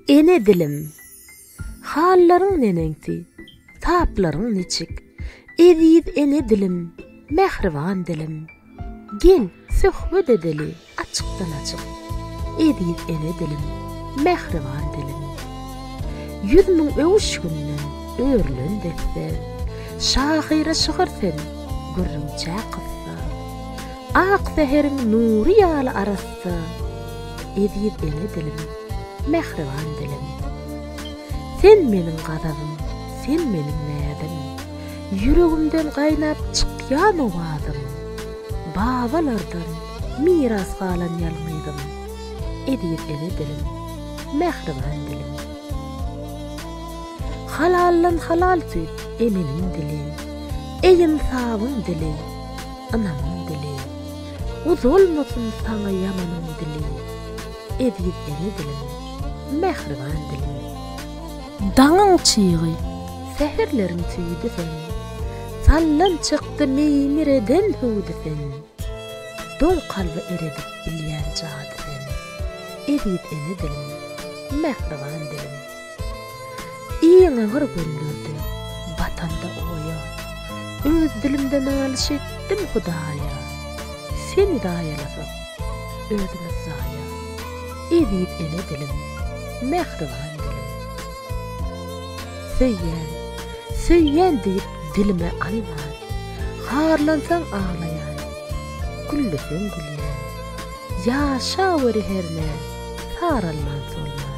Ene dilim, hallaryň neneňsi, taplaryň niçik? Eziz ene dilim, mähriban dilim, gel, söhbet edeli açykdan-açyk. Eziz ene dilim, mähriban dilim. Ýüz müň öwüşginden örülen desse, şahyra şygyr sen, gürrüňçä kyssa. Ak säheriň nury ýaly arassa, Eziz elli dilim, mähriban dilim. Sen meniň gazabym, sen meniň näzim, Ýüregimden gaýnap çykýan owazym, Babalardan miras galan ýalňyzym, Eziz elli dilim, mähriban dilim. Halaldan halal süýt emenin dili, Eý ynsabyň dili! ynamyň dili, Uzalmasyn saňa ýamanyň dili, Eziz ene dilim, mähriban dilim. Daňyň çygy, säherleriň tüýüdi sen, Sallan çykdy meýmir eden hüwdi sen, Doň kalby eredip bilýän jady sen, Eziz ene dilim, mähriban dilim. Iň agyr günlerde batanda oýa, Öz dilimde nalyş etdim Hudaýa. Seni zaýalasak, özümiz zaýa, Eziz ene dilim, mähriban dilim. Söýýän, söýýän diýip dilime alman, Harlansaň aglaýan, gülleseň gülýän, Ýaşaweri hernä, saralman-solman.